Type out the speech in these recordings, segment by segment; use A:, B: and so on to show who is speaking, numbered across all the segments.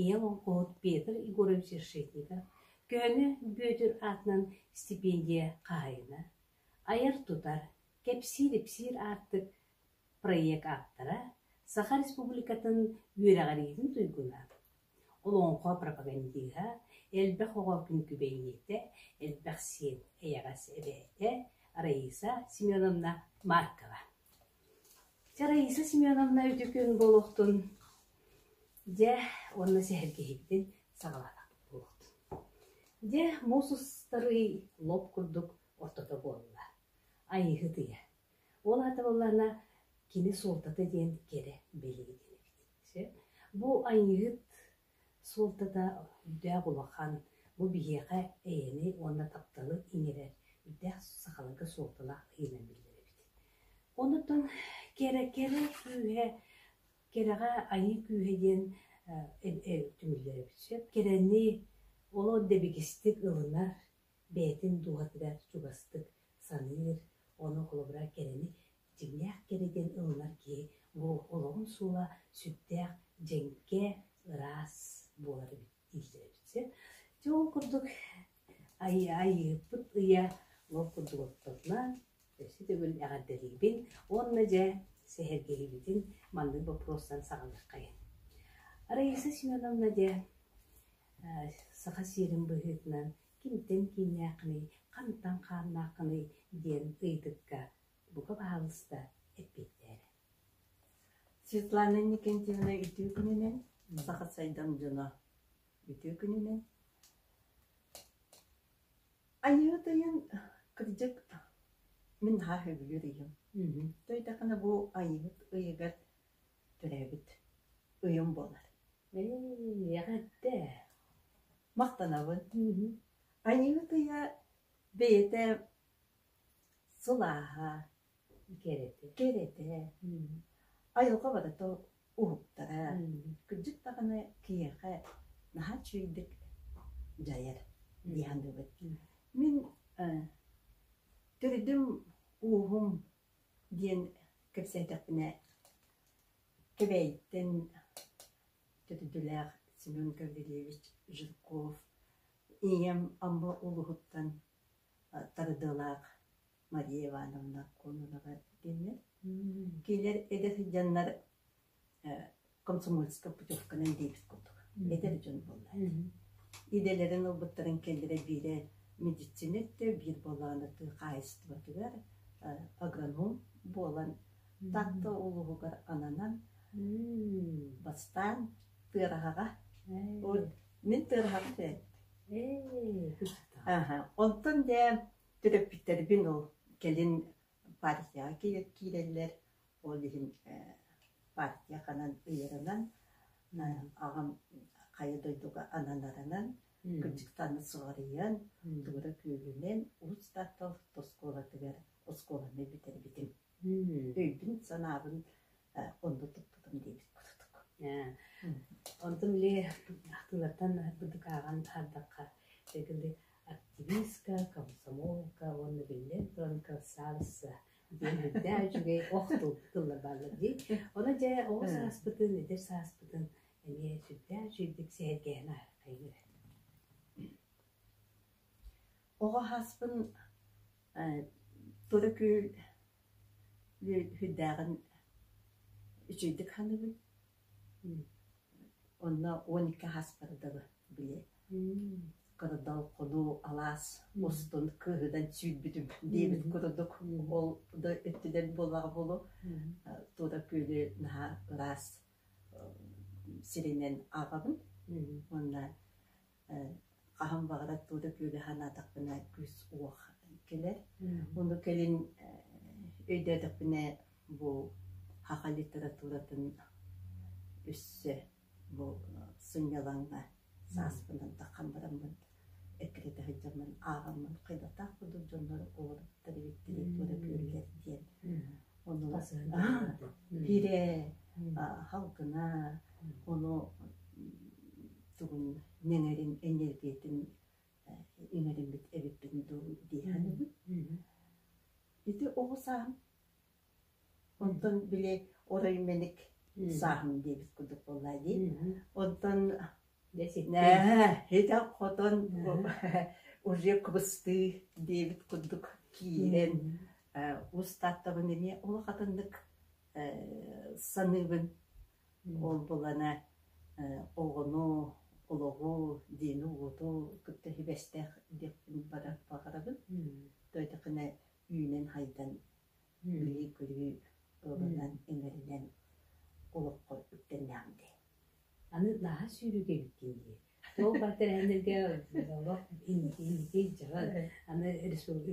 A: ийэ олоҥхоһут Петр Егорович Решетников көһөнү Бүөтүр аатынан стипендия хаһайына, айар-тутар, кэпсиир-ипсиир аартык проект ааптара, Саха Республикатын үөрэҕириитин туйгуна, олоҥхо пропагандиһа, элбэх оҕо күҥкүбэйиэтэ, элбэх сиэн эйэҕэс эбээтэ Раиса Семеновна Маркова Чэ, Раиса Семеновна үтүкүн буолуохтун, дьэ, уонна сэһэргэһиибитин саҕалаатах буолуохтун. Дьэ, муус устарый лоп курдук ортото буолла. Айыыһыт ыйа. Ол аата буоллаҕына, кини суолтата диэн кэрэ бэлиэтин эбитин. Сөп. Бу Айыыһыт Суолтата үрдээх улахан, бу биһиэхэ эйэни уонна тапталы иҥэрэр үрдээх сахаларга суолталаах ыйынан биллэр эбит. Онутан кэрэ кэрэ күүһэ, кэрэҕэ айыы күүһэ диэн түмүллэр эбит. Сөп кэрэни олох дэбигистик ылынар, бэйэтин дууһатыгар чугастык саныыр, ону холобура кэрэни Дьиҥнээх кэрэ диэн ылынар киһи бу олоҕун суола сүрдээх дьэҥкэ, ыраас буолар эбит дииллэр эбит сөп. Дьэ ол курдук Айыыппыт ыйа ол курдук оттонно. Өссө төгүл эҕэрдэлиибин уонна дьэ сэһэргэһиибитин маннык боппуруостан саҕалыаххайын. Раиса Семеновна дьэ саха сиэрин быһыытынан кимтэн кииннээххиний, хантан хааннааххыный диэн ыйытыкка бука баһаалыста эппиэттээрэ Светлана Иннокентьевна үтүө күнүнэн саха сайдам дьоно үтүө күнүнэн Айыыт ыйын кырдьык мин наһаа сөбүлүүр ыйым Төйдэхинэ бу Айыыт ыйыгар төрөөбүт ыйым буолар эҕэрдэ махтанабын Айыыт ыйа бэйэтэ Сылааһа, кэрэтэ, кэрэтэ, айылҕа барыта уһуктара, кырдьык даҕаны киһиэхэ наһаа үчүгэйдик дьайар дии саныыбын. Мин төрүтүм ууһум диэн кэпсээтэхпинэ Кэбээйиттэн төрүтүлээх Семен Гаврильевич Жирков ийэм Амма улуһуттан тардыалаах Мария Ивановна Кононова кинилэр эдэр дьоннор комсомольскай путевканан диэбит курдук эдэр дьон буоллар идэлэрин ылбыттарын кэллэрэ биирэ медицинэттэ биир болооно тыы хаайыстыбатыгар агроном буолан Таатта улууһугар ананан бастаан тыараҕаҕа мин тыараҕаҕа Онтон дьэ төрөппүттэрбин ол кэлин партияҕа киирэллэр, ол иһин партия ханан ыйарынан аҕам хайа дойдуга ананарынан кырдьыктаана суоҕарыйан Туора Күөлүнэн Уус-Тарта орто оскуолатыгар оскуоланы бүтэрбитим. Өйбүн-санаабын онно туппутум диэбит курдук. Онтум ли ахтыылартан бытыкааҕан аһардахха эгили активистка, комсомолка уонна биллэн туран красавица диэн үрдээх үчүгэй ох тылла бааллар дии. Ону дьэ оҕо сааспытын, эдэр сааспытын эмиэ сүрдээх сүүрдүк сэһэргэһэн айгыра. Оҕо ааспын тура күөл үөдээҕин үчүгэйдик саныыбын. Онно он икки ааспыта дылы били кордолкону алаас устун кыыһынан сүүрбүтүм диэбит курдук ол да өттүнэн буоллаҕа буолуо туора күөлү наһаа ыраас сиринэн ааҕабын уонна Хаһан баҕар оттуура күөлэ санаатахпына күүс-уох кэлэр. Ону кэлин өйдөөтөхпүнэ бу саха литературатын өссө бу сынньалаҥҥа сааспынан тархан бараммын эккирэтэ сылдьаммын ааҕаммын хайдахтаах курдук дьоннор олоробуттар эбит литература күөллэр диэн оннугас биирэ халкына ону тугун нэҥэрин энергиятын иҥэриммит эбиппин дуу диэхэн ити оҕо саам онтон били оройменик сааһым диэбит курдук буоллаа дии онтон Нээһээ, итэх-хотон уже кыбыстыы диэбит курдук киирэн ус тартабын эмиэ олох атыннык саныыбын. Ол булана оҕону, олоҕу, диини-уоту кытта сибэстээх диэхпин баран баҕарабын. Тойдакына үүнэн-хайдан, билии-көрүү ылынан, имэринэн олоххо үктэннэҕим дии. Аны наһаа сүүрүгэргии дии, ол бар тэрээһиннэргэ олох инникий дьаҕал, аны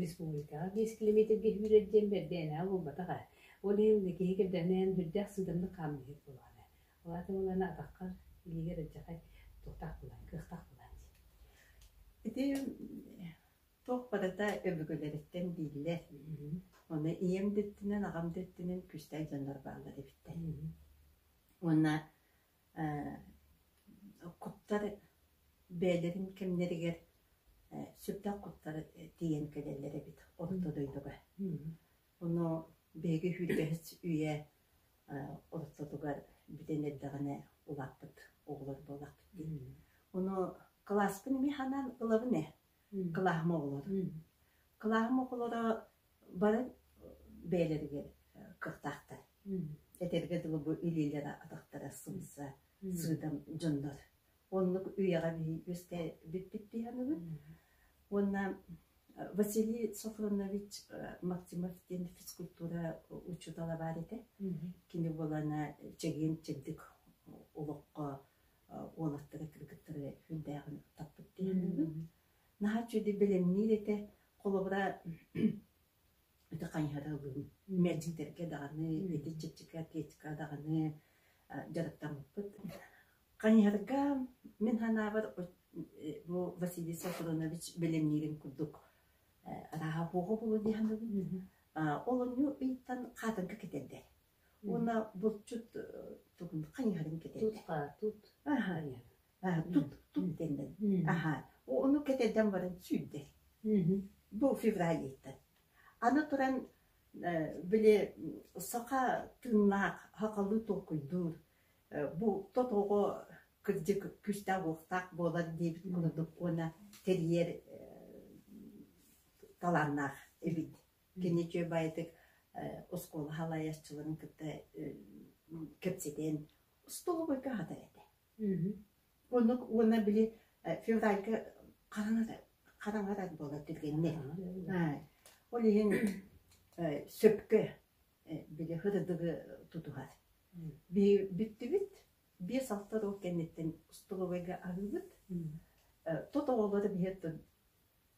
A: республикаҕа биэс километргэ сүүрэр диэн бэрдээнэҕэ буолбатах ээ. Ол иһин киһи кэрдэмнээн бүрдээх сыыдамнык хаамыыһык буолаҕына. Ол аата буоллаҕына атаххар илиигэр алдьархай туохтаах булан, кыахтаах булан дии. Ити туох барыта өбүгэлэриттэн дииллэр. Ону ийэм да өттүнэн, аҕам да өттүнэн Күүстээх дьоннор бааллар эбиттэр. уонна куттар бэйэлэрин кэмнэригэр сүрдээх куттар тиийэн кэлэллэр эбит орто дойдуга. Ону биһиги Хүргэһис үйэ олохтотугар бүтэн эрдэҕинэ улааппыт оҕолор буолахпыт дии. Ону кылааспын эмиэ ханан ылабын ээ. Кылааһым оҕолоро. Кылааһым оҕолоро Баран бэйэлэригэр кыахтаахтар. Этэргэ дылы бу илиилэрэ атахтара сымса, сыыдам дьоннор. Оннук үйэҕэ үөскээбиппит дии саныыбын. Уонна Василий Софронович Максимов диэн физкультура учуутала баар этэ. Кини буолана чэгиэн чэбдик олоххо уолаттары кыргыттары сүрдээҕин таппыт дии саныыбын. наһаа үчүгэйдик бэлэмниир этэ холобура ити хайыһарылыын мэлдьитэргэ даҕаны ити чэпчэки атлетика даҕаны дьарыктаммыппыт хайыһарга мин санаабар бу Василий Сафронович бэлэмниирин курдук арааһа оһоҕо булу диһаныбын олонньу ыйтан хаатынка кэтэрдэр уонна булчут тугун хайыһарын кэтэр тутка тут аха тут тут дэннэн аха ону кэтэрдэн баран сүүрдэр бу февралиттан аны туран били саха тыыннаах хакалыы толкуйдуур бу тотоҕо кырдьык күүстээх уохтаах буолар диэбит курдук уонна тэрийэр талааннаах эбит Кини үчүгэйдик оскуола салайааччыларын кытта кэпсэтэн остолобуйга аһатар этэ. Оннук уонна били февральга хараҥарар буолар түргэнник. Ол иһин сөпкө били һырдыгы тутуһар. Бүттүбүт биэс-алта ол кэнниттэн остолобуйга аһыыбыт. Тот оҕолоро биһир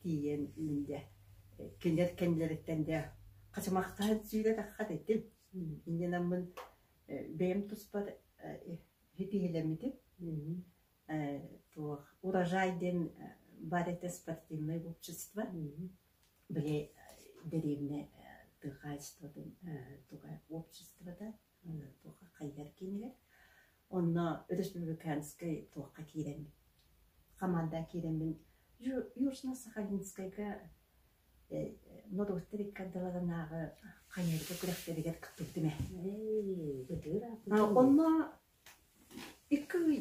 A: тиийэн инде кинилэр кэннилэриттэн дэ хачымахтаһан сүүрэтахха этим инде наммын бэйэм туспар хитиһилэммитим туох урожай диэн бар это спортивное общество били деревне тыхайство туга обществода туохха хайыгар киинигэр онно өрөспүүбүлүкээнскэй туохха киирэн хамаанда киирэммин южно сахалинскайга норовство риккардаларынааҕы хайыырга күрэхтэригэр кыттыбытым ээ онно икки ый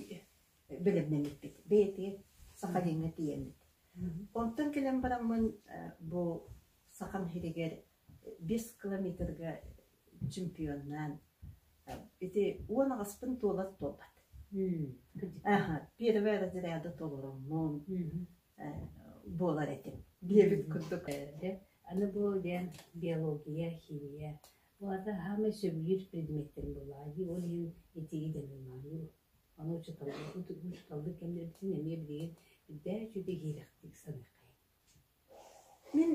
A: бэлэмнэммиппит бэйэтигэр сахалиҥҥа тиийэммит онтон кэлэн бараммын бу саха нэһилигэр биэс километрга чемпионнаан ити уон аҕаспын туолар туолбат. Аха, первый разряды толороммун буолар этим. Диэбит курдук. Аны бу диэн биология, химия bu arada hamı sömürür предметтен булаайы, ол иһин этиги дэмимаайы. Аны учуталды, учуталды кэмнэрбитин эмиэ билигин үрдээ үчүгэй хийрэхтик саныаххай. Мин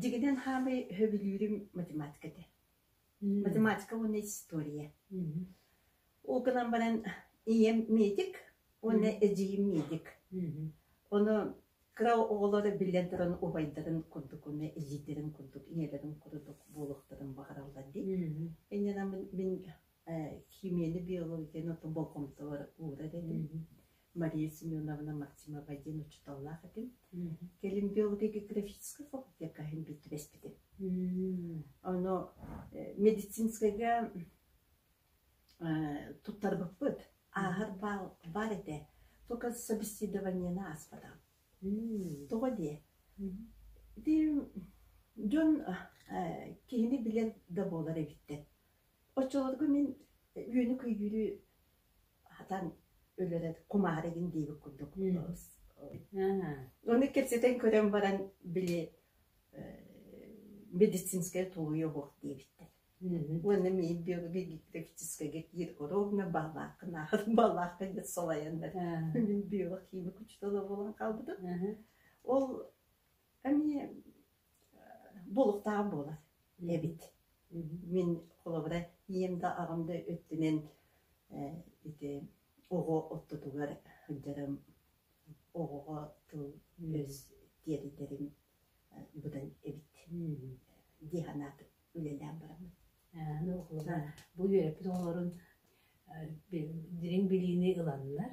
A: дьигинэн хаамай сөбүлүүрүм математика этэ. Математика уонна история. Ол гынан баран ийэм медик уонна эдьиийим медик. Ону кыра оҕолоро биллэн туран убайдарын курдук уонна илиилэрин курдук ийэлэрин курдук буолуохтарын баҕараллар дии. Иннинэ мин Э, химияны, биологияны отон болҕомтобор уурар этим. Мария Семеновна Максимова диэн учууталлаах этим. Кэлин биологиографическай факультетка иһин бүттүбэспитим. Ону э, медицинскайга э, туттарбыппыт. Ааһар баар, баар этэ. Только собеседованиена ааспата. Тоҕо диэ? Дии, дьон э, киһини билэн да буолар эбиттэр. Оччолорго мин үөнү-кыйыыры хатан өлөрө кумаарыгын диэбит курдук Ону кэпсэтэн көрөн баран били медицинскэй тулуйа оһох диэбиттэр. Уонна мин биологическайга киир ровно балааккын аахыр балаакка диэт салайаннар мин биологияны күчтөҕө буолан хаалбытым. Ол эмиэ Буолуохтаах буолар эбит. Мин холобура ийэм да аҕам да өттүнэн э ити оҕо ортотугар сылдьарым, оҕоҕо тыл өс тиэритэрим быдан эбит дии санаатым үлэлээн бараммын. Бу үөрэппит оҕолорун дириҥ билиини ыланнар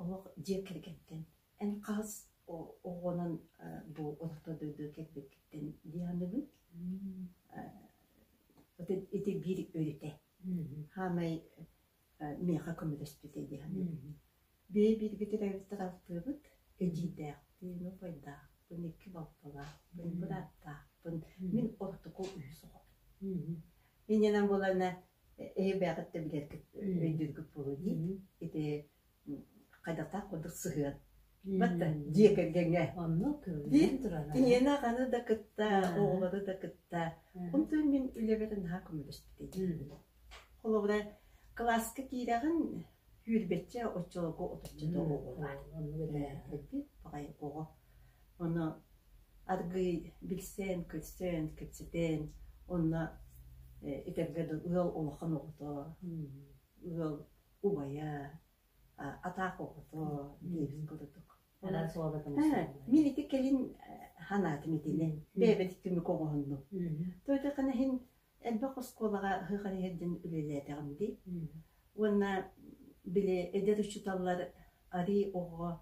A: Олох дьиэ кэргэттэн, эн хаһыс оҕонон бу олохто дойду кэлбиккиттэн дии аныгын. Ити, ити биир өрүтэ. Хаамай миэхэ көмөлөспүтэ дии саныыбын. Бэйэ-бииргитин өрүттэр алтыыбыт, эдьиийдээхпин, убайдаахпын, икки балтылаахпын, бырааттаахпын. Мин Ортоку үһүс оҕобун. Иннинэн буолана ээ бэйэҕиттэн билэргит өйдүүргүт буолуо дии ити хайдахтаах курдук сыһыан Батта дьиэ кэргэҥҥэ диир киниэнэ аны да кытта оҕолору да кытта онтон мин үлэбэр наһаа көмөлөспүт холобура кылааска киирэҕин күүрбэччэ оччолорго отучча да оҕолар эппит баҕайы оҕо Ону аргыый билсэн, көрсөн, кэпсэтэн, онно этэргэ дылы ыал улахан оҕото, ыал убайа, атаах оҕото диэбит курдук. Мин ити кэлин санаатым итини. Бэйэбит түмүк оҕоһуннум. Тойотахана иһин элбэх оскуолаҕа ыһыхан иһэрдин үлэлээтэҕим дии. Уонна били эдэр учууталлар арии оҕо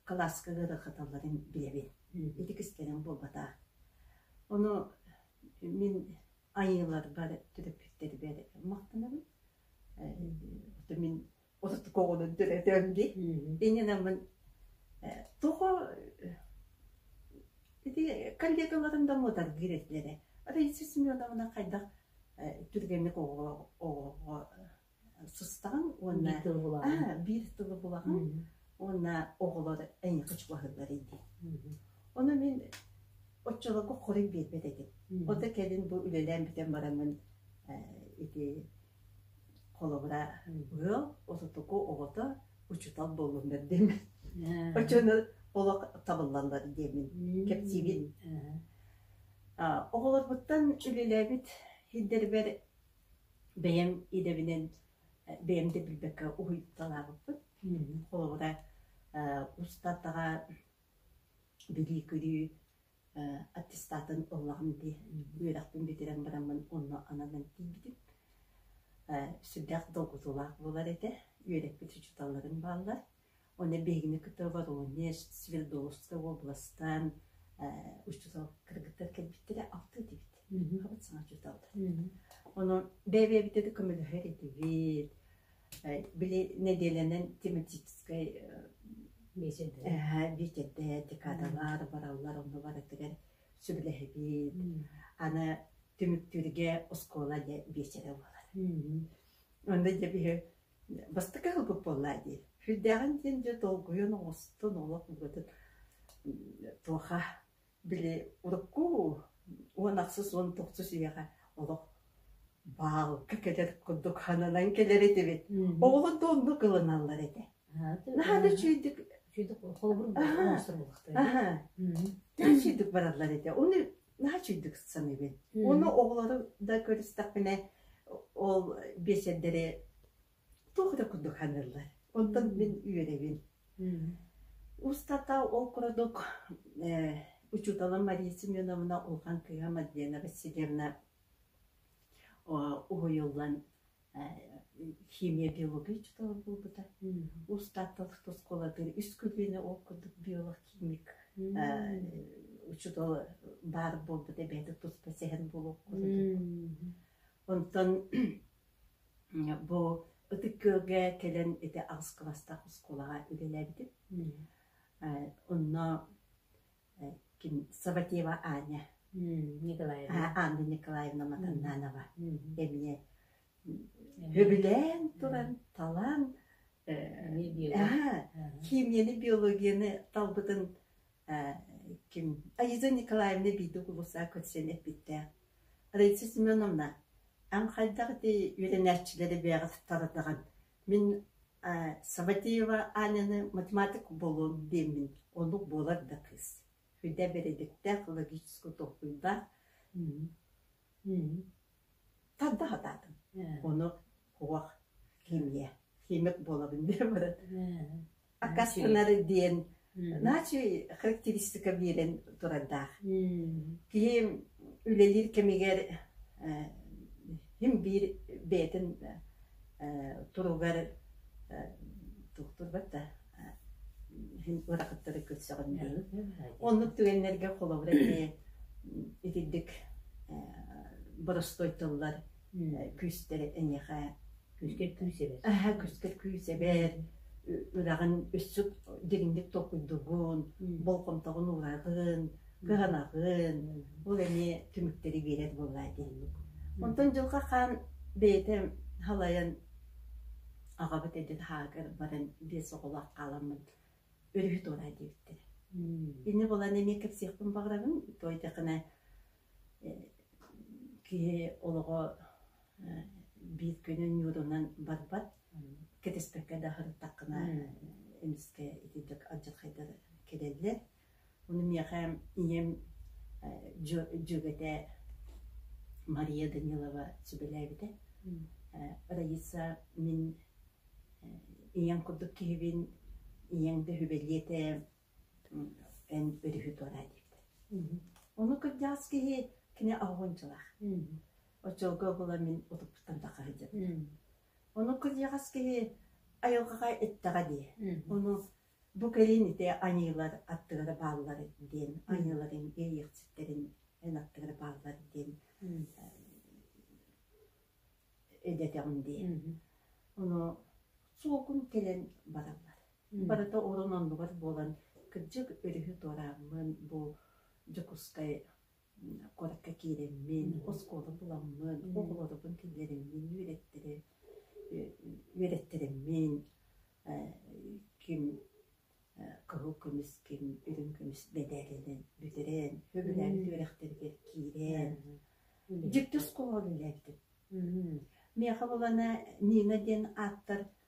A: кылааска ыарахаталларын билэбин, итикис кэлэн буолбатаах. Ону мин айыыларбар төрөппүттэрбэр махтанабын. Э, мин отуттук оҕолорун төрөтөм дии. Иннинэммин э, тоҕо ити коллегаларын да муотаргыыр этилэрэ. Раиса Семеновна хайдах э, түргэнник оҕоҕо сыстаҕын уонна биир тылы булаҕын биир тылы булаҕын уонна оҕолор эйиэхэ чугаһыыллар ини ону мин оччолорго хоруй биэрбэт этим от кэлин бу үлэлээн бүтэн бараммын ити холобура ыал отутуку оҕото учутал буоллуннар диэмин очону олох табыллаллар диэмин кэпсиибит оҕолорбуттан үлэлээбит сирдэрбэр Бэйэм идэбинэн бэйэм да билбэккэ уһуйталаабыппын. Холобура устатаҕа бүлүү-күлүү аттестатын ыллаҕым дии. Үөрэхпин бүтэрэн бараммын онно ананан тиийбитим. Сүрдээх долгутуулаах буолар этэ. Үөрэппит учууталларым бааллар. Уонна биһигини кытта Воронеж, Свердловскай уобаластан учуутал кыргыттар кэлбиттэрэ алты этибит. Хаҕыт саҥа учууталдар. Онон бэйэ-бэйэбитэ да көмөлөһөр этибит. Били нэдиэлэнэн тематическай бюджеттэ декадалар бараллар онно барытыгар сөбүлэһэбит. Аны түмүктүүргэ оскуола дьэ биэчэрэ буолар. Онно дьэ биһи бастакы аһылык буоллаа дии үрдээҕин диэн дьэ долгуйан оҥостон олох букатын туоха били урукку уон ахсыс уон тохсус үйэҕэ олох баалка кэтэр курдук хананан кэлэр этибит оҕолор да оннук ылыналлар этэ наһаа да үчүгэйдик үчүгэйдик холобур оҥостор буолахтар үчүгэйдик бараллар этэ оны наачыйдык саныыбын. Оны оҕолору да көрүстэхпинэ ол биэчэрдэри туох да курдук ханыыллар. Оттон мин үөрэбин. Устата ол курдук учууталым Мария Семеновна улахан кыһа Мадлена Васильевна уһуйуллан химия биология учуутала буолбута устааттан оскуолатыгар үс көлүөнэ ол курдук биолог химик учуутала баар буолбут эбэтэр туспа сэһэн буолуох онтон бу ытык-күөлгэ кэлэн ити аҕыс кыластаах оскуолаҕа үлэлээбитим онно ким Саватева Аня Николаевна Анна Николаевна Матаннанова эмиэ сөбүлээн туран талаан химияны биологияны талбытын ким Аиза Николаевна биирдэ кулусаа көрсөн эппиттээх Раиса Семеновна эн хайдах ити үөрэнээччилэри бэйэҕит таратаҕын Мин Саватеева Аняны математик буолуом диэммин, оннук буолар да кыыс. Үрдэ бэрээдэктээх, логическай толкуйдаах, тарда сатаатым. Ону туох химия, химик буолабын диэн баран аккастанары диэн начи характеристика биэрэн турардаах. Киһи үлэлиир кэмигэр хим биир бэйэтин туругар тухтурбат да хим ыракыттары көрсөҕүн оннук түгэннэргэ холобура итирдик боростой тыллар күүстэрэ эниэхэ Күскэр күүсэбэр. Аһа күскэр күүсэбэр ыраҕын өссө дириҥник толкуйдугун, болҕомтоҕун уураҕын, кыһанаҕын. Ол эмиэ түмүктэри биэрэр буолла итинник. Онтон Дьылҕа Хаан бэйэтэ халайан аҕабыт эдьит Хаагар баран биэс оҕолоох хааламмыт өрүһү туораа диэбиттэрэ. Инньэ буолан эмиэ кэпсиэхпин баҕарабын. Тоойдохуна Киһи олоҕо биир күнү ньуурунан барбат, кэтэспэккэ да сырыттаххына эмискэ итинник алдьархайдар кэлэллэр. Ону миэхэ ийэм дьүөгэтэ Мария Данилова сүбэлээбитэ: Раиса, мин ийэҥ курдук киһибин, ийэҥ да сүбэлиэ этэ эн өрүһү туораа диэбитэ. Ону кырдьаҕас киһи кини оһуончалаах. Оччолго була мин утуппуттан таха сылдьабын. Ону кырдьаҕас киһи айылҕаҕа эттэҕэ дии. Ону бу кэлин ити аньыылар аттыгар бааллар диэн, аньыыларын иэйиэхчиттэрин эн аттыгар бааллар диэн эдэтэҕим дии. Ону суокум кэлэн бараллар. Барыта урун оннугар буолан, кырдьык, өрүһү туорааммын, бу Дьокуускай куоракка киирэммин, оскуола буламмын, оҕолорбун киллэриммин, үөрэттэри үөрэттэрэммин, ким кыһыл көмүс, ким үрүҥ көмүс мэдээлэнэн бүтэрэн, сөбүлээбит үөрэхтэригэр киирэн, дьикти оскуола үлэлээбитим. Миэхэ булана Нина диэн ааттар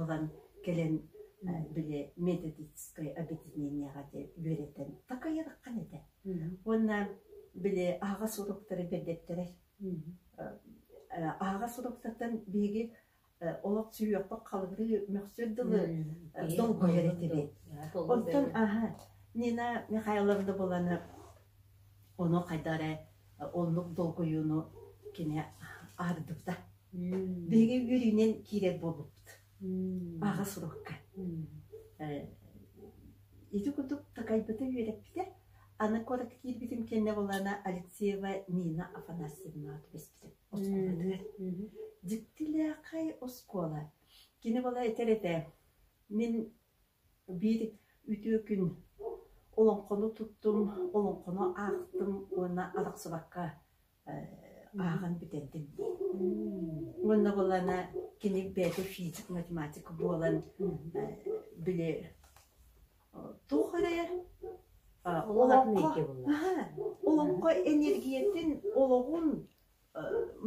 A: ылан кэлэн били методическай объединениеҕа диэн үөрэтэн такайараххан этэ уонна били аһаҕас суруктары бердеттэрэр аһаҕас суруктартан биһиги олох сүһүөхпүт халырыы мөхсөр дылы долгуйар этибит оттон аха нина михайловна буланы ону хайда эрэ оннук долгуйууну кини ардыта Биһиги үөрүүнэн киирэр буолбуппут. Аҕа сурукка. Ити курдук такайбыта үөрэппитэ. Аны куорат киирбитим кэннэ булана Алексеева Нина Афанасьевна түбэспитэ. Дьиктилээхэй оскуола. Кини бола этэр этэ, мин биир үтүө күн олоҥхону туттум, олоҥхону аахтым уонна арахсыбакка ааҕан бүтэрдим. Уонна ылана кини бэйэтэ физик, математика буолан били туох эрэ олоҥхо энергиятын олоҕун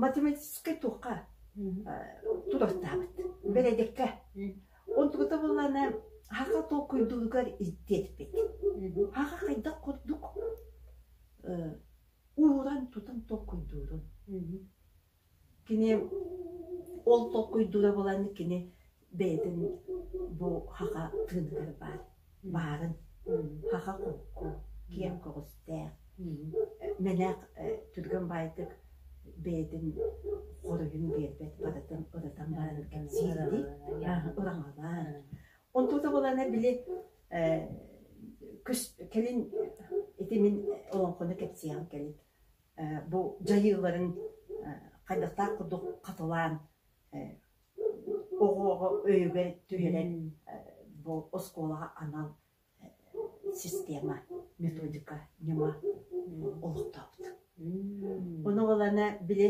A: математическай туохха тутаттаабыт бэрэдэккэ онтугута буллана хаха толкуйдугар ирдиэппит хаха хайдах курдук ууран тутан толкуйдуурун. Кини ол толкуйдуура булан кини бэйэтин бу хаха тыыныгар баар баарын хаха холку киэҥ көҕүстээх мэнэх түргэн баайтык бэйэтин хоруйун биэрбэт барытын ырытан баран кэпсиирдии ыраҥалаан онтута булана били кэлин ити мин олоҥхону кэпсиэҕим кэлин бу дьайыыларын хайдахтаах курдук хатылаан оҕоҕо өйүгэр түһэрэн бу оскуолаҕа анал система методика ньыма олохтообут. Bunu olana bile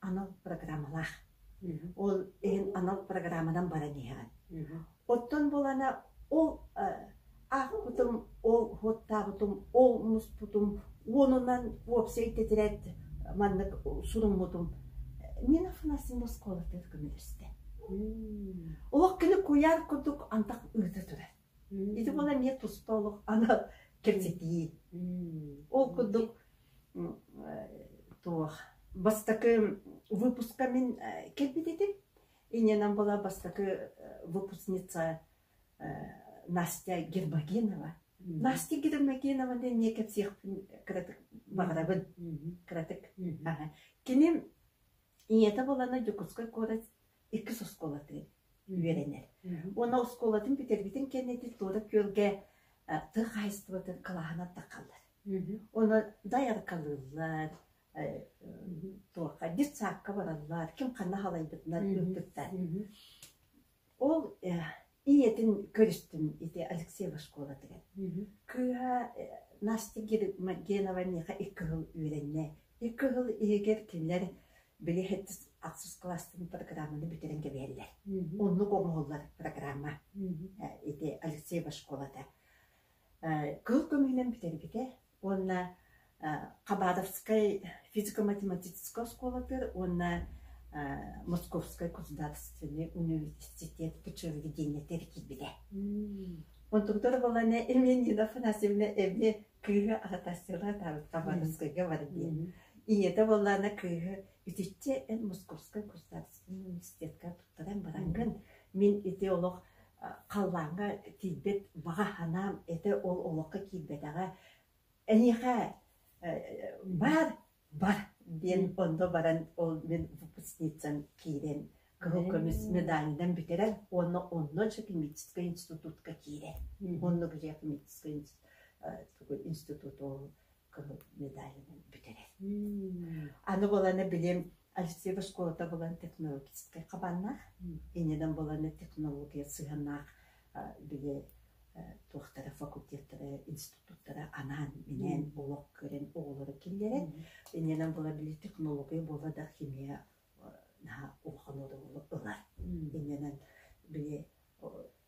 A: анал программалаах. Ол иһин анал программанан баран иһэҕин. Оттон булана ол аахпытым, ол уоттаабытым, ол муспутум уонунан уопсай титирет маннык суруммутум мин афанасин оскуолатыыр көмөлөстө. Олох кини куйаар курдук антах ыыта турар. Ити буола эмиэ туста олох ана кэпсэтии. Ол курдук туох бастакы выпуска мин кэлбит этим. Иннинэн была бастакы выпускница Настя Гербагинова. Настя Гербагинова ден не кепсехпин кыратык барабын. Кыратык. Кини ийэтэ болана Дюкуской куорат иккис оскуолатын үөрэнэр. Уонна оскуолатын бүтэрбитин кэннитин Туора Күөлгэ тыа хаһайыстыбатын кылааһынан тахаллар. Оны дайаркалыыллар, туохха детсадка бараллар, ким ханна халайбытынан үрдүктар. Ол ийэтин көрүстүм ити Алексеева школатыгар. Кыыһа Настя Генованиха икки сыл үөрэннэ. Икки сыл иһигэр кинилэр били ХЭТИС ахсыс класстын программаны бүтэрэн кэбиһэллэр. Оннук оҥоһуллар программа ити Алексеева школата. Кыыл көмүһүнэн бүтэрбитэ. уонна Хабатовскай физико-математическай оскуолатыгар уонна Московскай государственный университет пчеловедениетыгар киирбитэ. Онтугутар боланы Ильминина Афанасьевна эми кыыһы аһатасыла табыт Хабатовскайга бардыы. Ийэтэ боллана кыыһы үтүччэ эн Московскай государственный университетка туттаран барангын. Мин ити олох халлааҥҥа тиийбэт баҕа санаам этэ ол олоххо киирбэтэҕэ эһиэхэ баар бар диэн онно баран ол мин выпускницам киирэн кыһыл көмүс медальынан бүтэрэн уонна онно Чекимическай институтка киирэн онно Чекимическай институт ол кыһыл медалынан бүтэрэн аны боланы билим Альфсеева школата булан технологическай хабааннаах, иннинэн булан технология сыһыаннаах били туохтара факультеттара, институттара анаан-минээн олох көрөн оҕолору киллэрэн, иннинэн була били технология буола да химия наһаа улахан оҕолору ылар. Иннинэн били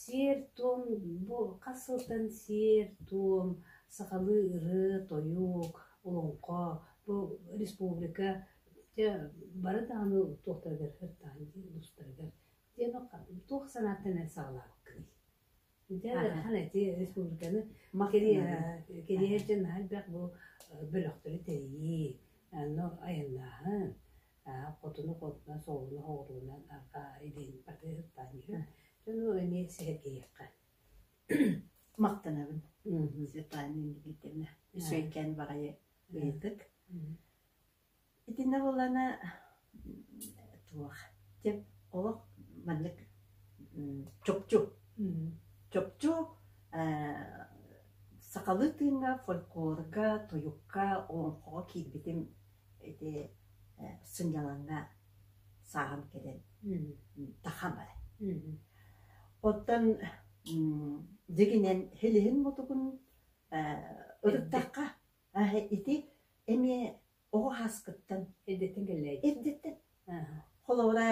A: Сиэр-туом бу хас сылтан сиэр-туом сахалыы ырыа-тойук, олоҥхо бу республика дьэ бары даҕаны туохтарыгар ырытаҕын устарыгар диэн туох санааттан саҕалаабыккыный? Дьэ хан ити республиканы кэриэһэ дьон наһаа элбэх бу бөлөхтөрү тэрийии, ону айаннааһын аа хотуну хотунас оҕуну оҕуруунан арҕаа илин батыһыктаан иһэр дьону эмиэ сиһэтийэххэ махтанабын Светлана Леонидовна үчүгэйкээн баҕайы ыйытык итиннэ буоллана туох дьэ олох маннык чопчу чопчу сахалыы тыыҥҥа фольклорга тойукка олоҥхоҕо киирбитим ити сынньалаҥҥа сааһым кэлэн тахсан баран. Оттон дьигинэн хилиһин-мутугун ырыттахха ити эмиэ оҕо ааскыттан эрдэттэн кэллээйи эрдэттэн холобура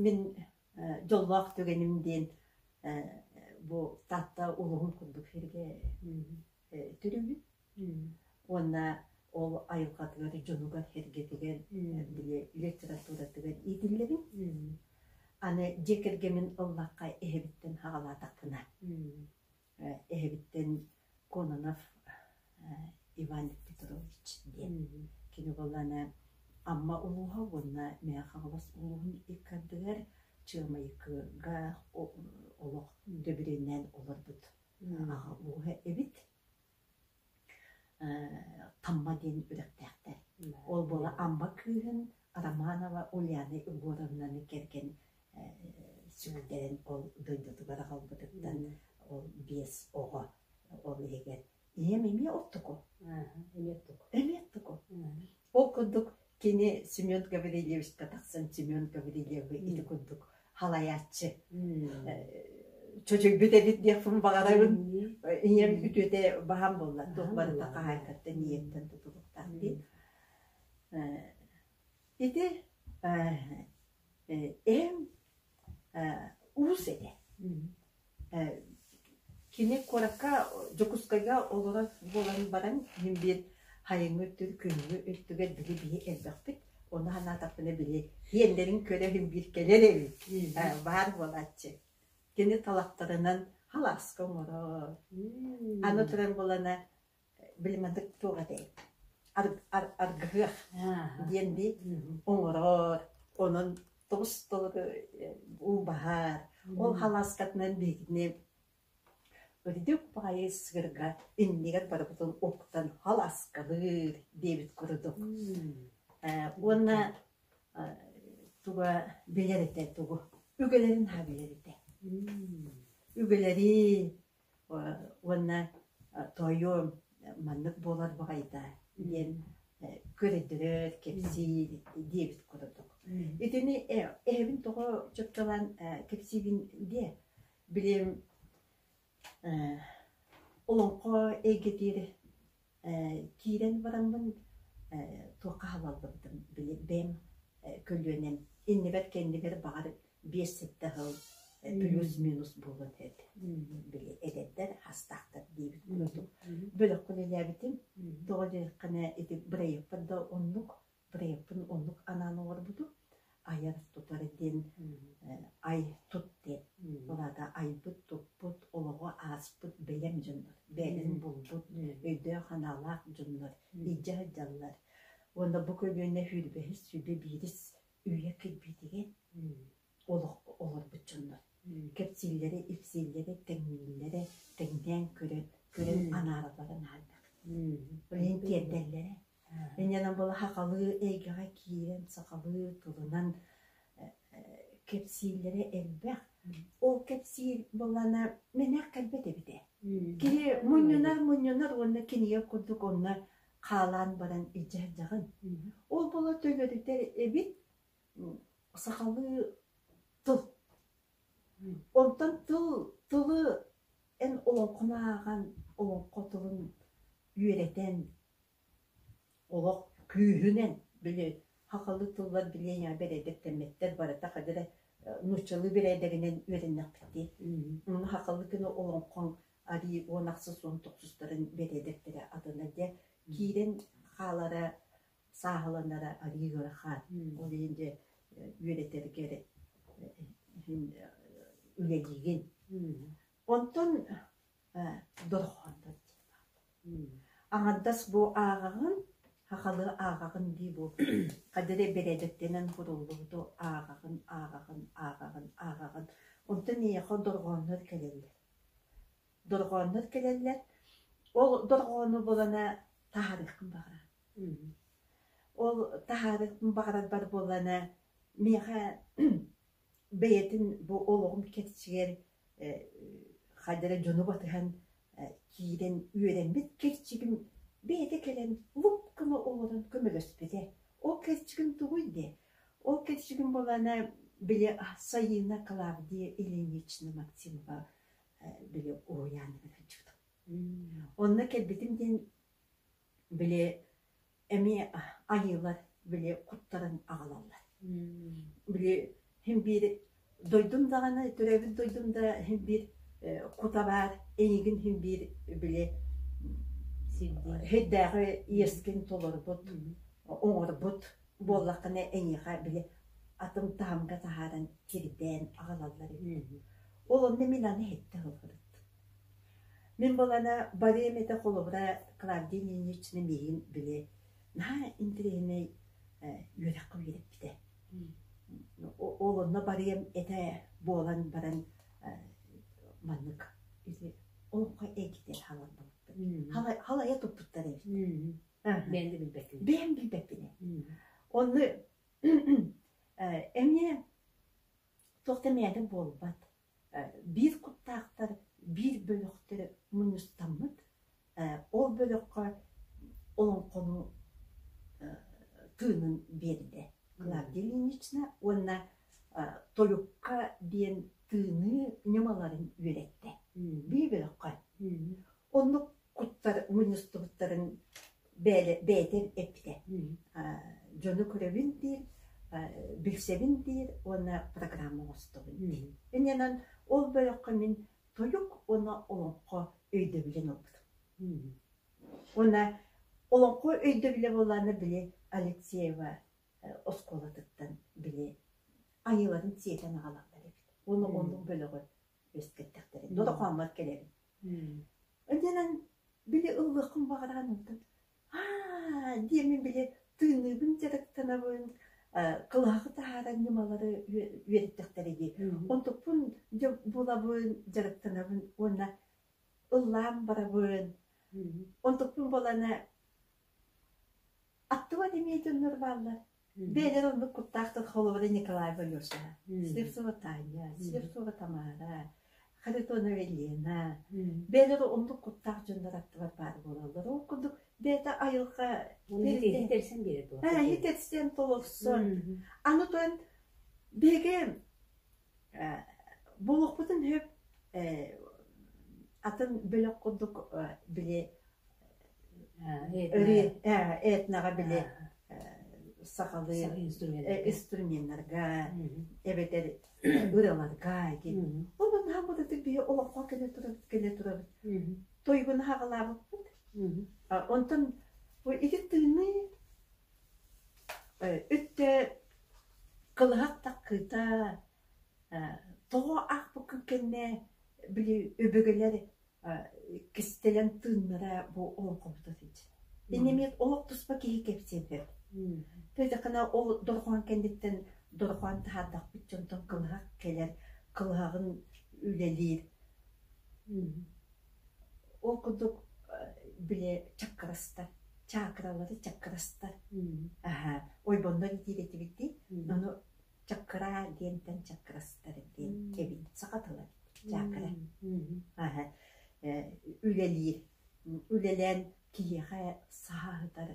A: мин дьоллоох түгэним диэн бу Таатта улууһун курдук сиргэ төрөбүн Уонна ол айылҕатыгар, дьонугар-сэргэтигэр, били литературатыгар иитиллэбин. Аны дьиэ кэргэмин ыллахха эһэбиттэн саҕалаатахпына, эһэбиттэн Кононов Иван Петрович диэн кини буоллаҕына Амма улууһа уонна Мэҥэ Хаҥалас улууһун иккардыгар Чыамайыкыга олох дэбиринэн олорбут аҕа ууһа эбит. Тамма диэн үрэхтээхтэр. Ол буола Амма кыыһын Романова Ульяна Егоровнаны кэргэн сүрдэрэн ол дойдутугар аҕалбытыттан ол биэс оҕо ол иһигэр ийэм эмиэ оттуку эмиэ оттуку ол курдук Кини Семен Гаврильевичка тахсан Семен Гаврильевы ити курдук халайааччы чочуйбут эбит диэхпин баҕарабын ийэм үтүөтэ баһам буолла туох барыта хаһаайкаттан ийэттэн тутулуктаах дии ити эм уус этэ. Кини куоракка Дьокуускайга олорор буолан баран мин биир хайыҥҥы өттүгэр күҥҥү өттүгэр били бии элбэхпит. Ону санаатахпына били иэннэрин көрөһүм биир кэлэр эбит. Баар буолааччы. Кини талахтарынан халааска оҥорор. Аны туран буолана Блин атык туох этэй? Аргыһыах диэн дии оҥорор. Онон тобус-тобугу убаһар. Ол халааскатынан биһигини үрдүк баайы сыгырга иннигэр барыбытын уктан халааскалыыр диэбит курдук. Уонна туга билэр этэ тугу? Үгэлэрин ха билэр этэ. Үгэлэри уонна тоойуом маннык буолар баҕайыта диэн көрдөдөр, кэпсии диэбит курдук. Итини эһэбин тоҕо чопчулаан кэпсиибин диэ, билиэм олоҥхо эйгэтиир киирэн бараммын туохха хабаллыбытым били бэйэм көлүөнэм иннибэр кэннибэр баҕар биэс сэттэ сыл плюс-минус буолуон этэ били эдэрдэр хастаахтар диэбит курдук бөлөхпүн үлээбитим тоҕо диэтэххинэ ити бырайыакпар да оннук проекпын оннук анаан оҥорбутум. Айар-тутар диэн ай тут диэн. Ол аата айбыт-туппут, олоҕу ааспыт бэлэм дьоннор, бэйэлэрин булбут, өйдөөх-санаалаах дьоннор илдьэ сылдьаллар. Уонна бу көлүөнэ сүүрбэһис, сүүрбэ биирис үйэ кирбиитигэр олоххо олорбут дьоннор кэпсииллэрэ, ипсииллэрэ, тэҥнииллэрэ, тэҥнээн көрөн, көрөн анааралларын аһардахтыы. Билэн тиэрдэллэрэ. Иннинэн была хахалыы эйгэҕэ киирэн, сахалыы тылынан кэпсииллэрэ элбэх. Ол кэпсиир буолана мэнэх кэлбэт эбитэ. Киһи мунньунар мунньунар уонна кинигэ курдук онно хаалаан баран илдьэрдэҕин. Ол бола төлөрүтэр эбит сахалыы тыл. Онтон тыл, тылы эн олоҥхону ааҕан, олоҥхо тылын үөрэтэн, олох күүһүнэн били хахалы тыллар билиэҥэ бэрээдэктэммэттэр барыта хадыра нууччалыы бэрээдэгинэн үөрэннэхпиттиэ. Уну хахалы гына олоҥхоҥ арыы уон ахсыс уон тохсустарын бэрээдэктэрэ атына дьэ киирэн хаалара сааһыланара арыы ыарахан. Ол иһин дьэ үөрэтэри иһин үлэлиигин. Онтон дорҕоонтон Аҥардас бу ааҕаҕын, хахалы ааҕаҕын дии бу хадары бэрээдэктэнэн куруллубуту ааҕаҕын, ааҕаҕын, ааҕаҕын, ааҕаҕын. Онтон миэхэ дорҕооннор кэлэллэр. Дорҕооннор кэлэллэр. Ол дорҕоону булана таһаарыаххын баҕара. Ол таһаарыахпын баҕарарбар буоллана миэхэ бэйэтин бу олоҕум кэрчигэр хайда эрэ дьону батыһан киирэн үөрэммит кэрчигим бэйэтэ кэлэн луп гына олорон көмөлөспүтэ. Ол кэрчигим тугуй дии? Ол кэрчигим буоллана били Сайыына Клавдия Ильинична Максимова били уһуйаанынан сылдьыбытым. Онно кэлбитим диэн били эмиэ айыылар били куттарын аҕалаллар били син биир дойдум даҕаны төрөөбүт дойдум да син биир кута баар эйигин син биир били сирдээҕи иэрскин толорбут оҥорбут буоллаххына эйиэхэ били атын таһымга таһааран кирдээн аҕалаллар үһү ол онно мин аны иһиттэ олорбут Мин буолана барыамата холобура Клавдия Ильинична миигин били наһаа интэриэһинэй э үөрэххэ үөрэппитэ. Ол онно барыам этэ буолан баран э маннык ити олоххо эргитэ хааларбыппыт. Хала халайа туппуттар эбит. Бэйэм да билбэппин. Бэйэм билбэппин. Онно э эмиэ туох да мээтэ буолбат. Биир куттаахтар биир бөлөхтө мунньустаммыт, ол бөлөххө олоҥхону тыынын биэрдэ Клавдия Ильинична уонна Тойукка диэн тыыныы ньымаларын үөрэттэ. Бии бөлөххө. Оннук куттар мунньустубуттарын бэйэ, бэйэтин эппитэ. дьону көрөбүн диир, билсэбин диир уонна программа оҥостобун диир. Иннинэн ол бөлөххө мин тойук уонна олоҥхо өйдөбүлүн ылбытым. Уонна олоҥхо өйдөбүлэ буоллааны били Алексеева оскуолатыттан били айыыларын сиэтэн аҕалаллар эбит. Уонна оннук бөлөҕү үөскэттэхтэрин дотокооммор кэлэрим иннинэн били ыллыаххын баҕаран ылтым аа диэмин били тыынныыбын дьарыктанабын кылаһаҕы таһааран ньымалары үөрэттэхтэрэ дии онтукпун дьэ булабын дьарыктанабын уонна ыллаан барабын онтукпун булана аттыбат эмиэ дьоннор бааллар Бэйэлэр ордук куттаахтар холобура Николай Валюшаҕа. Слепцова Таня, Слепцова Тамара, Харитонова Лена. Бэйэлэрэ ордук куттаах дьоннор аттылар баар буолаллар. Ол курдук бэйэтэ айылҕа Оны иитэрсэн биэрэ туох. Иитэрсэн толорсон. Аны туран биһиги Буолуохпутун сөп атын бөлөх курдук били этноҕа били сахалыы инструменнарга эбэтэр ырыларга онон хааммытытык биһи олоххо кэлэ турабыт кэлэ турабыт туйгуну хаҕылаабыппыт онтон ити тыыныы Өттө кылыһах таккыыта, тоҕо аахпыккын кэннэ били өбүгэлэр кистэлэҥ тыыннара бу олоҥхобута сыдьа. Инньэ эмиэ олох туспа киһи кэпсиэн сөп. Петьяканы ол дорҕоон кэнниттэн дорҕоон таһаардахпыт дьонтон кылыһах кэлэр, кылыһаҕын үлэлиир. Ол курдук били чаккыраста, чаакыралары чаккыраста, аһаа, ойбоннор итиир этибит дии, ону чаккыраа диэнтэн чаккырастар диэн кэбин саха тыла чаакыра. Аһа, үлэлиир, үлэлээн киһиэхэ саһа аһытар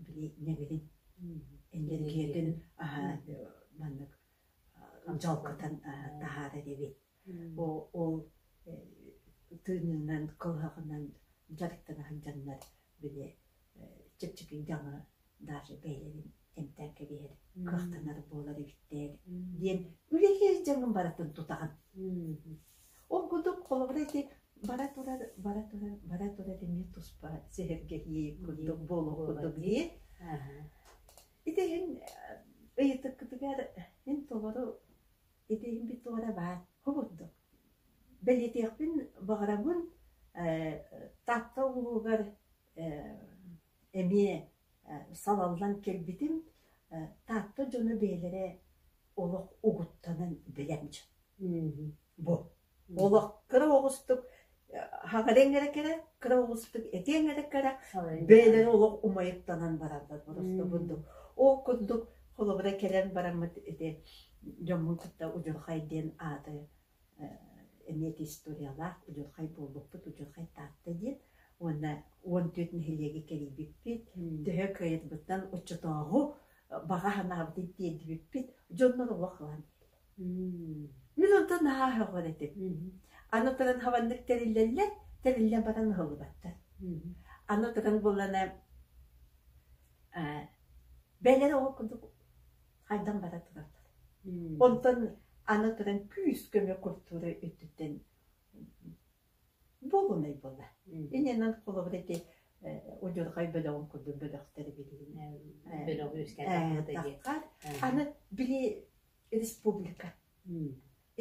A: били ньэҥирин, энергиятын аһа маннык дьалкытан таһаарар эбит. Ол тыынынан, кылыһаҕынан дьарыктана сылдьаннар били чэпчэки дьаҥы даже бэйэлэрин эмтээн кэбиһэр кыахтанар буолар эбиттэр диэн үлэлиир дьаҥын барытын тутаҕын. Ол курдук холобура ити бара турар бара турар бара турар эмиэ туспа сэһэргэһии курдук буолуох курдук дии. Ити иһин ыйытыккытыгар мин толору Этиһиммит баҕара баар, хомурдук. Бэлиэтиэхпин баҕарабын э, Таатта улууһугар э, эмиэ э, салаллан кэлбитим. Э, Таатта дьоно бэйэлэрэ олох угуттанан билэн бу олох кыра оҕустук хаҕарыаҥ эрэ кэрэ, кыра оҕустук этиэҥ эрэ кэрэ, бэйэлэрэ олох умайыктанан бараллар просто курдук. Ол курдук холобура кэлэн бараммыт ити дьоммун кытта удьурхай диэн ааты эмиэ историялаах удьурхай буолбуппут удьурхай Таатта диэн уонна уон түөрт нэһилиэги кэрийбиппит төһө кыайарбыттан оччотооҕу баҕа санаабытын тиэрдибиппит дьоннор олох ылан Мин онтон наһаа аһылҕан этим. Аны туран хабаннык тэриллэллэр, тэриллэн баран аһыллыбаттар. Аны туран буллана э, бэлэр оҕо курдук хайдан баран тураллар. Онтон аны туран күүс көмө культура өттүттэн буолунай буола инэнэн холобура ити удьурҕай бөлөҕүн курдук бөлөхтөрү билиһиннэбэтэххар аны били республика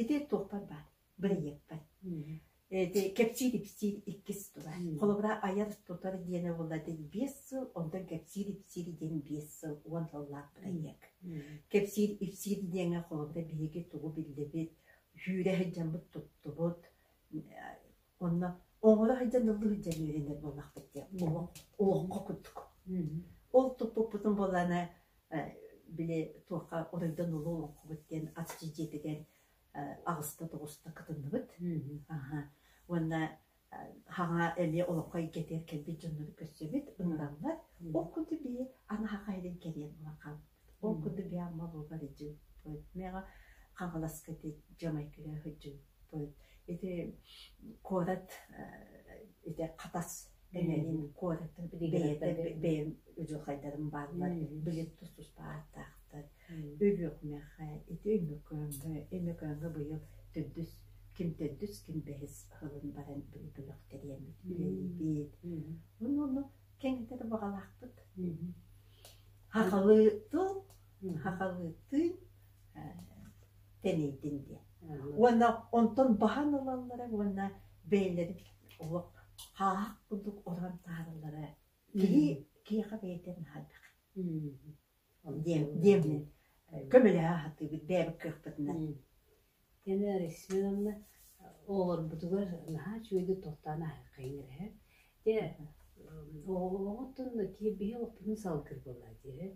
A: ити туохпар баар бырайыакпар ити кэпсиир ипсиир иккис тула холобура айар тутар диэни булладыт биэс сыл онтон кэпсиир ипсиир диэн биэс сыл уон сыллаах бырайыак кэпсиир ипсиир диэҥэ холобура биһиги тугу биллибит сүүрэ сылдьаммыт туттубут Онно оҥоро сылдьан ыллыы сылдьан үөрэнэр буоллахпыт диэн муҥу олоҥхо курдук. Ол туппуппутун буоллаана били туохха оройдон улуу олоҥхобут диэн аччы дьиэтигэр аҕыспыт оҕуста кытынныбыт. Аха уонна хаҥа эмиэ олоҥхо эйгэтигэр кэлбит дьоннору көрсөбүт, ыҥыраммат. Ол курдук бии аны хаһаайын кэлиэн буолан Ол курдук Яма буолбат ити миэхэ Хаҥаласка ити Джамайкаҕа сылдьыым. Ити куорат ити Хатас дэнэрин куораттан бэйэтэ бэйэм удьуорхайдарым бааллар билим тустаахтаахтар Өлүөхүмэхэ ити Өймөкөөҥҥө Өймөкөөҥҥө быйыл төрдүс ким төрдүс ким бэһис сылын баран бөлөхтэриэммит үлэлиибит онно кэнитэ да баҕалаахпыт хахалыытыл хахалыытыы тэнийдин диэн уонна онтон баһан ылаллара уонна бэйэлэрин олох хааһах курдук орон таарыллара киһи киһиэхэ бэйэтэ наһайдах диэммин көмөлөһө сатыыбыт бэйэбит кыахпытынан оҕолорбутугар наһаа үчүгэйдик туохтаан аһыаххайыҥ эрэ дьэ оҕоҕутун биһи олохпутун салгыыр буоллар диэри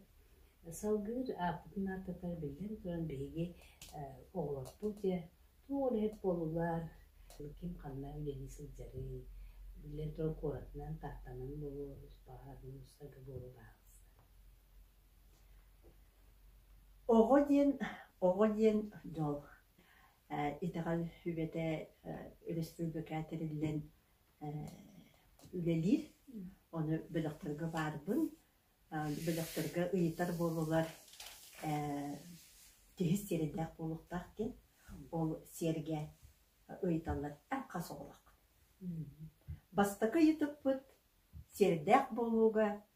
A: салгыыр ааппытын ааттатар биллэн туран биһиги оҕолорбут дьэ туох үлэһит буоллулар ким ханна үлэлии сылдьарый биллэн туран куоратынан тааттанан буолуо успаһан устарга буолуо Оҕо диэн, оҕо диэн дьол. Э итэҕэл сүбэтэ э өрөспүүбүлүкэ тэриллэн э үлэлиир. Ону бөлөхтөргө баарбын. Э бөлөхтөргө ыйытар буоллулар э киһи сиэриндээх буолуохтаах диэн. Ол сиэргэ ыйыталлар эн хас оҕолох. Бастакы ыйытыкпыт сиэрдээх буолууга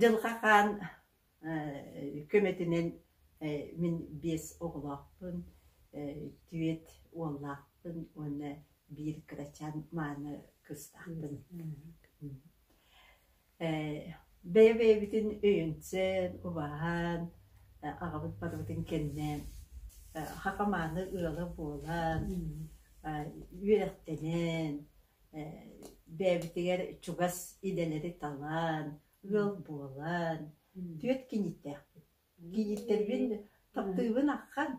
A: Дьылҕа Хаан көмөтүнэн мин биэс оҕолоохпун, түөрт уоллаахпын уонна биир кырачаан мааны кыыстаахпын. Бэйэ-бэйэбитин өйөнсөн, убаһан, аҕабыт барыбытын кэннэ хахамааны ыала буолан, үөрэхтэнэн бэйэбитигэр чугас идэлэри талан, ыал буолан, түөрт киниттээхпин. Киниттэрбин таптыыбын ахан,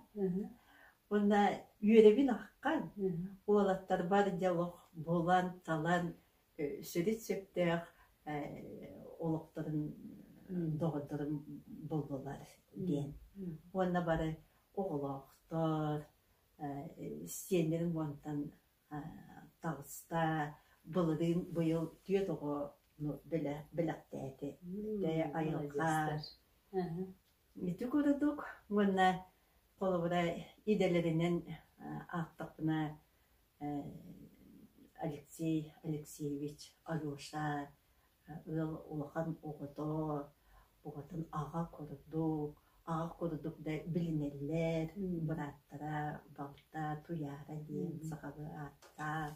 A: уонна үөрэбин ахан. Уолаттарбар дьэ олох булан, талан, сүрүн сөптөөх олохторун доҕордорум буллулар диэн. Уонна бары оҕолоохтор, сиэннэрим уонтан таҕыста былырыын быйыл түөрт оҕону бэлэхтээтэ айылҕа ити курдук уонна холобура идэлэринэн аахтахпына Алексей Алексеевич Алеша ыал улахан оҕото уҕатын аҕа курдук аҕа курдук да билинэллэр бырааттара балта туйаара диэн сахалыы ааттаах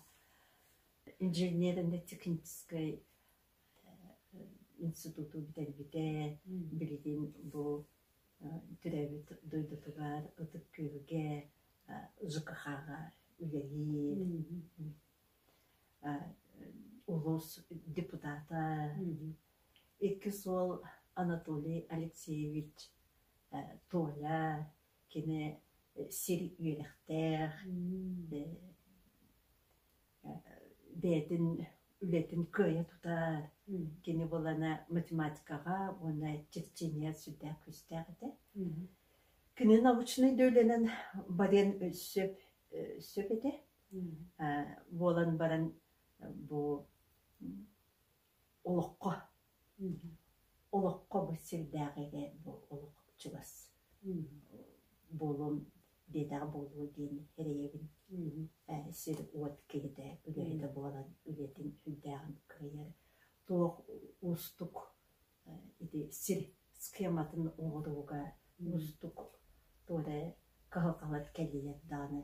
A: инженернай техническэй институту бүтэрбитэ билигин бу төрөөбүт дойдутугар ытык күөлгэ ЖКХ-га үлэлиир улуус депутата иккис уол Анатолий Алексеевич Толя кини сир үөрэхтээх бэйэтин үлэтин кыайа тутар кини буолана математикаҕа уонна черчение сүрдээх күүстээх этэ кини научнай да үлэнэн барыан сөп сөп этэ буолан баран бу олоххо олоххо бу сирдээх ити бу олох чугас буолуом диэтэҕэ буолуо диэн эрэйэбин сир-уот киһитэ үлэһитэ буолан үлэтин үрдээҕин кыайар туох уустук ити сир схематын оҥорууга уустук туора кыһалҕалар кэлиэр даҕаны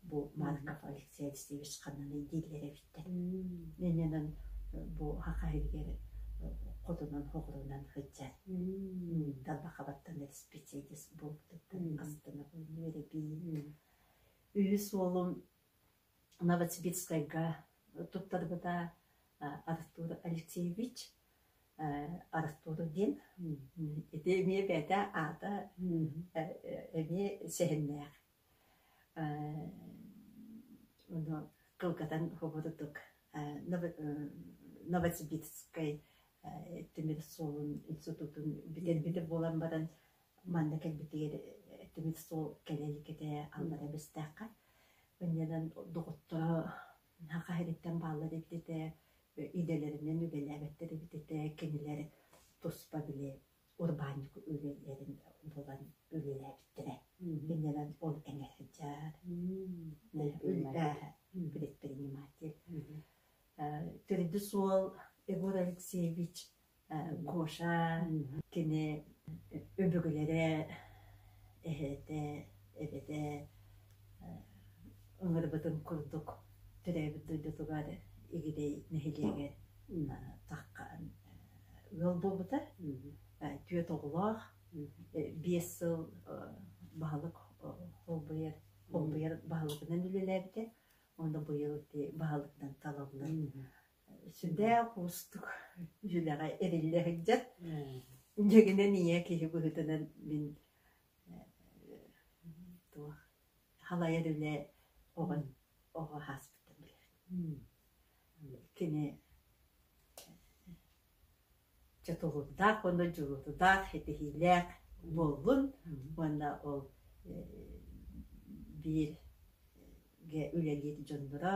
A: бу Марков Алексей Алексеевич ханныгый дииллэр эбиттэр иннинэн бу хахайыгар хотунан хоҕурунан сылдьар тарбахабаттан диспетчердис буолбутуттан астына булунур эбии үһүс уолум Новосибирскайга туттарбыта Артур Алексеевич Артур диэн ити эмиэ бэйэтэ аата эмиэ сэһэннээх ону кылгатан хоборутук Новосибирскай тимир суолун институтун билэрбитэ буолан баран манна кэлбитигэр тимир суол кэлэ иликитэ аллара бэстээххэ Иннинэн доҕотторо наһаа хаһыытыттан бааллар эбит этэ, идэлэринэн үлэлээбэттэр эбит этэ, кинилэр туспа били урбаанньык үлэлэрин булан үлэлээбиттэрэ. Иннинэн ол эҥэ сылдьар, предприниматель. Төрдүс уол Егор Алексеевич Гоша кини өбүгэлэрэ, эһэтэ, эбэтэ ыҥырбытын курдук төрөөбүт дойдутугар Игирэй нэһилиэгэ ыал буолбута. Түөрт оҕолоох, биэс сыл баһылык холбуйар холбуйар баһылыгынан үлэлээбитэ. Онно быйыл ити баһылыктан талыллан сүрээх уустук дьүлэҕэ эриллэ сылдьар дьэгинэн ийэ киһи быһыытынан мин туох халайар үлэ оҕон оҕо ааспытын билэр кини чотулуурдаах уонна дьулутутаах ситиһиилээх буоллун уонна ол бииргэ үлэлиир дьонноро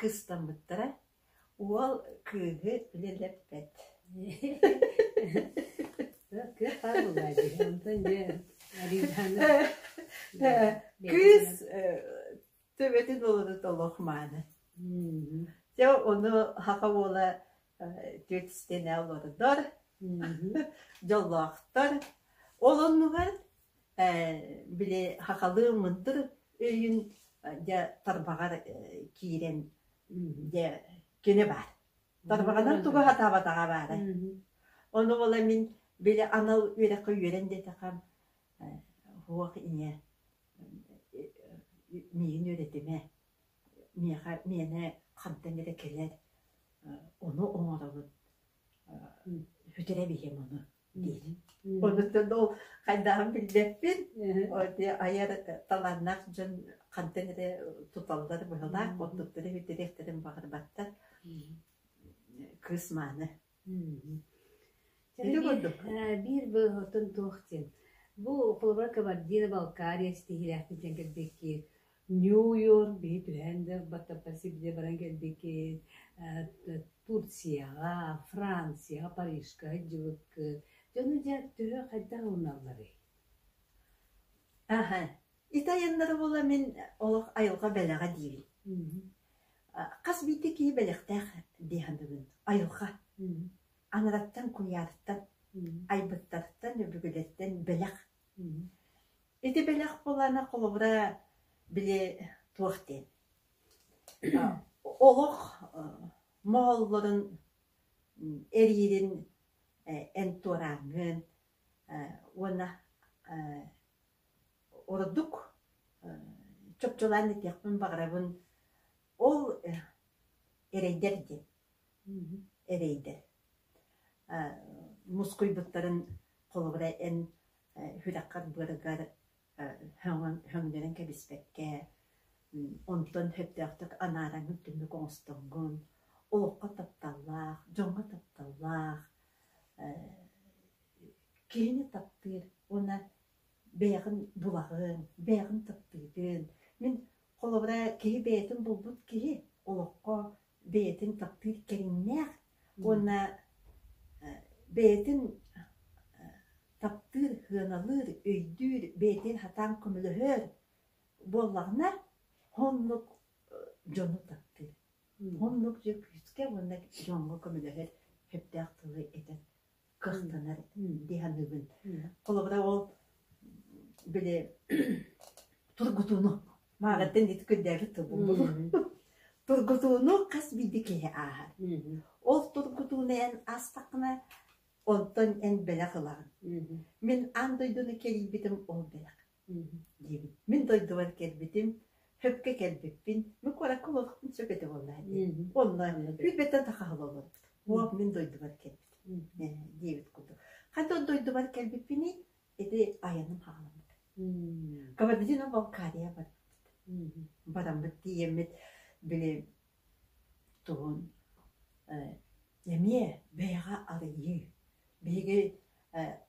A: кыыстаммыттара, уол кыыһы үлэлэппэт кыыс төбөтүн ылыныт олох мааны дьэ ону саха уола түөтүстэнэ олордор дьоллоохтор ол оннугар били хахалыы мындыр өйүн дьэ тарбаҕар киирэн дьэ кини баар тарбаҕынан тугу сатаабатаҕа баара ону була мин били анал үөрэххэ үөрэн диэтэххэ суох ийэ миигин үөрэтимэ миэхэ миэнэ хантан эрэ кэлэр ону оҥоробут сүтэрэ биһиэм ону Онтон ол хайдааҕын билбэппин, айар талааннаах дьон хантан эрэ туталлар быһылаах, онтуттан бүтүрүөхтэрин баҕарбаттар. Кыыс мааны. Биир быыһотун туох диэн. Бу холобура Кабардино-Балкария ситиһиилээхтик дьэн кэлбикки Нью-Йорк биһи түһээн да Батапа сибилэ баран кэлбикки Турцияҕа, Францияҕа, Парижка сылдьыбыккыт. Дьону дьэ төһө хайдах ылыналларый? Аһа, итайаннары буола мин олох айылҕа бэлэҕэ диибин. Хас биирдии киһи бэлэхтээх дии саныыбын. Айылҕа. Анараттан, Куйаартан, Айбыттартан, Өбүгэлэртэн бэлэх. Ити бэлэх булана холобура били туох диэн олох моһоллорун эриирин эн туорааҥҥын уонна ордук чопчулаан этиэхпин баҕарабын ол эрэйдэр диэн эрэйдэр мускуйбуттарын холобура эн Үрэххэр быарыгар өҥнөрөн кэбиспэккэ онтон сөптөөхтүк анааран түннүк оҥостоҥҥун, олоххо тапталлаах, дьоҥҥо тапталлаах киһини таптыыр уонна бэйэҕин булаҕын, бэйэҕин таптыытын. Мин холобура киһи бэйэтин булбут киһи олоххо бэйэтин таптыыр кэриҥнээх уонна бэйэтин таптыыр, сыаналыыр, өйдүүр, бэйэтин сатаан көмөлөһөр буоллаҕына, оннук дьону таптыыр. Оннук дьэ күүскэ уонна дьоҥҥо көмөлөһөр сөптөөх тылы этэр. кыстанар дии саныыбын. Холобура ол били тургутууну мааҕаттан диэки көрдөөбүт тыл булбулу. Тургутууну хас биирдии киһи ааһар. Ол тургутууну эн астахына онтон эн бэлэх ылаҕын. Мин аан дойдуну кэрийбитим ол бэлэх. Мин дойдубар кэлбитим, хөпкө кэлбиппин, мы куоракка олорохпун сөп этэ буоллаҕа дии. Онно сүүрбэттэн тахаһал олорбут. Оп, мин дойдубар кэлбитим. Э, диэбит курдук. Хантан дойдубар кэлбиппиний? Ити айаным хаҕаламмыт. Кабардино Балкария барбыт. Бараммыт тиийэммит били туһун э, эмиэ бэйэҕэ арыйыы. Биһиги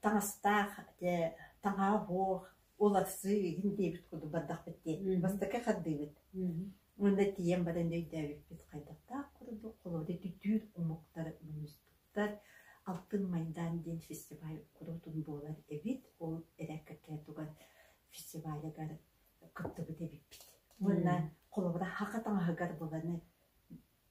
A: таҥастаах, дьэ, таҥаһа суох, уларсыы иһин диэбит курдук бардахпыт диэн бастакы хардыыбыт. Уонна тиийэн баран өйдөөбүппүт хайдахтаах курдук холобура дүдүүр омуктар муустуктар алтын майдаан диэн фестиваль куруутун буолар эбит. Ол эрээккэ туган фестивалыгар кыттыбыт эбиппит. Уонна холобура хаха таҥаһыгар буланы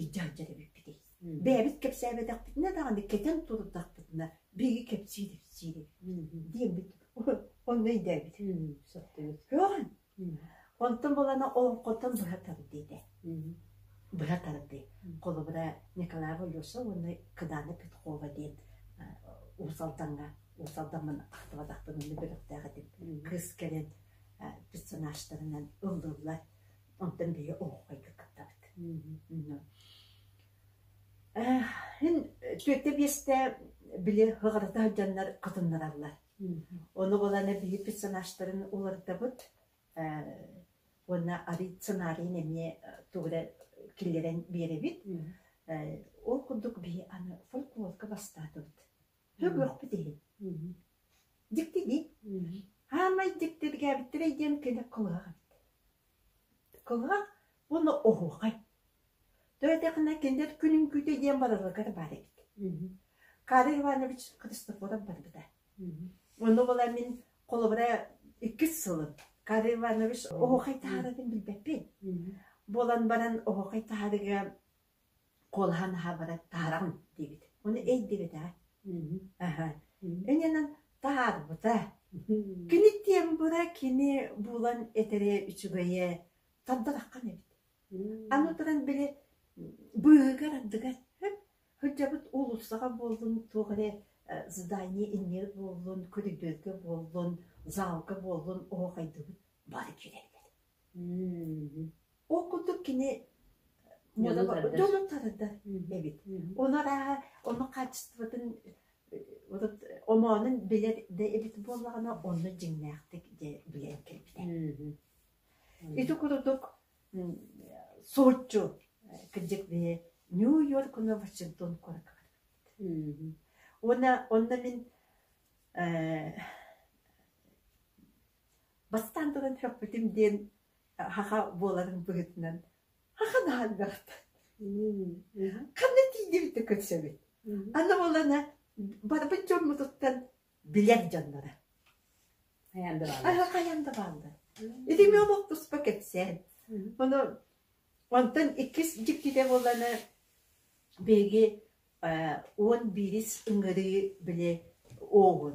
A: илдьалдьар эбиппитий бэйэбит кэпсээбэтэхпитинэ даҕаны кэтэн турдахпытына биһиги кэпсиир-ипсиир диэммит онно өйдөөбүт көөн онтон булана олоҥхотон быһа тардыыта быһа тардыы холобура николай волюсов уонна кыдаана петкова диэн уус алдаҥҥа уус алдаммын ахтыбатахпын онно бөлөхтөөх этим кыыс кэлэн персонажтарынан ыллыллар Онтон биһиги оһоххойго кыттабыт. Һин түөртэ биэсте били хыгатата сылдьаннар кытыннараллар. Ону боланы биһи персонажтарын улардабыт уонна арый сценарийын эмиэ тугура киллэрэн биэрэбит. Ол курдук биһи аны фольклорга бастаатыбыт. Сөбүөхпүт иһин. Дьикти дии. Саамай дьикти бигээбиттэрэй диэн кини кылгаах эбит. Кылгаах уонна оһуохай. Төһөтөхүнэ кинилэр күнүн күүтэ диэн барыларга баар эбит. Карл Иванович Христофоров барбыта. Ону була мин холобура иккис сылым Карл Иванович оһуохай таһаарарын билбэппин. Буолан баран оһуохай таһаарыга Куолаһа наһаа бары таһараҕын диэбит. Уонна өйдүбэтэ. Аһа. Инэнэн таһаарбыта. Кини тиэн быра кини булан этэрэ үчүгэйэ тардараххан эбит. Аны туран били быыһыгар ардыгар сылдьабыт уулуссаҕа буоллун туох эрэ здание иннигэр буоллун көрүдүөргэ буоллун заалга буоллун оһохайдыбыт бары киирэллэр Ол курдук кини муода дьону танытар эбит. Оны арааһа оның хаачыстыбатын вот омоонун билэр да эбит буоллаҕына онно дьиҥнээхтик дьэ билэн кэлбитэ. Ити курдук суотчу кырдьык биһи Нью-Йорк уонна Вашингтон куоракка Уонна онно мин Бастаан туран сөхпүтүм диэн саха буоларын быһыытынан ахан ахан бэрхтэн ханна тиийдибит да көрсөбүт аны буолана барбыт дьоммутуттан билэр дьонноро хайаан да бааллар хайаан да бааллар ити эмиэ омук туспа кэпсээн ону онтон иккис дьиктитэ буолана биһиги уон биирис ыҥырыы били оҕун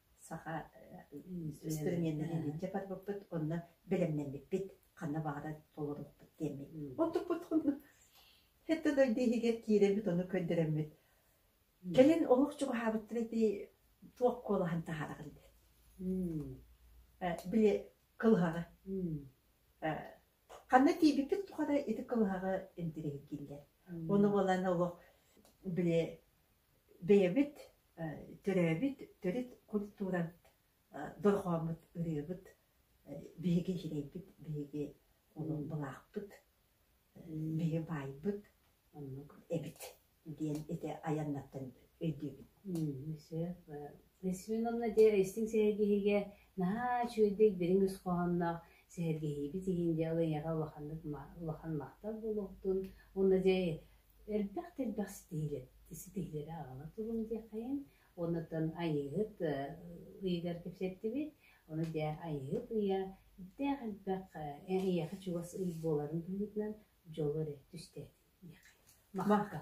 A: саха инструменнарын илдьэ барбыппыт онно бэлэмнэммиппит ханна баҕарар толоруппут диэммит оттукпут хонно эттэ да иһигэр киирэммит ону көрдөрөммүт кэлин олох чугаһаабыттара дии туох куолаһын таһараҕын били кылыһаҕы ханна тиийбиппит тухары ити кылыһаҕы интириэһиргииллэр ону буолан олох били бэйэбит төрөөбүт төрүт культуран дорҕооммут ырыабыт биһиги иһирэйбит биһиги олоҥхолаахпыт биһиги баайбыт оннук эбит диэн ити айаннартан өйдүүбүн Свенон Надежда истиҥ сэһэргэһиигэ наһаа үчүгэйдик дириҥ ис хоһоонноох сэһэргэһиибит иһин дьэ ол эйиэхэ улаханнык улахан махтал буолуохтун уонна дьэ Элбэх да элбэх ситиһиилэри аҕала туруҥ диэххэйин, онутун Айыыһыт ыйыгар кэпсэттибит. Ону дьэ Айыыһыт ыйа элбэх-элбэх эйиэхэ чугас ый буоларын быһыытынан дьолу эрэ түстээтин диэххэйин. Махака!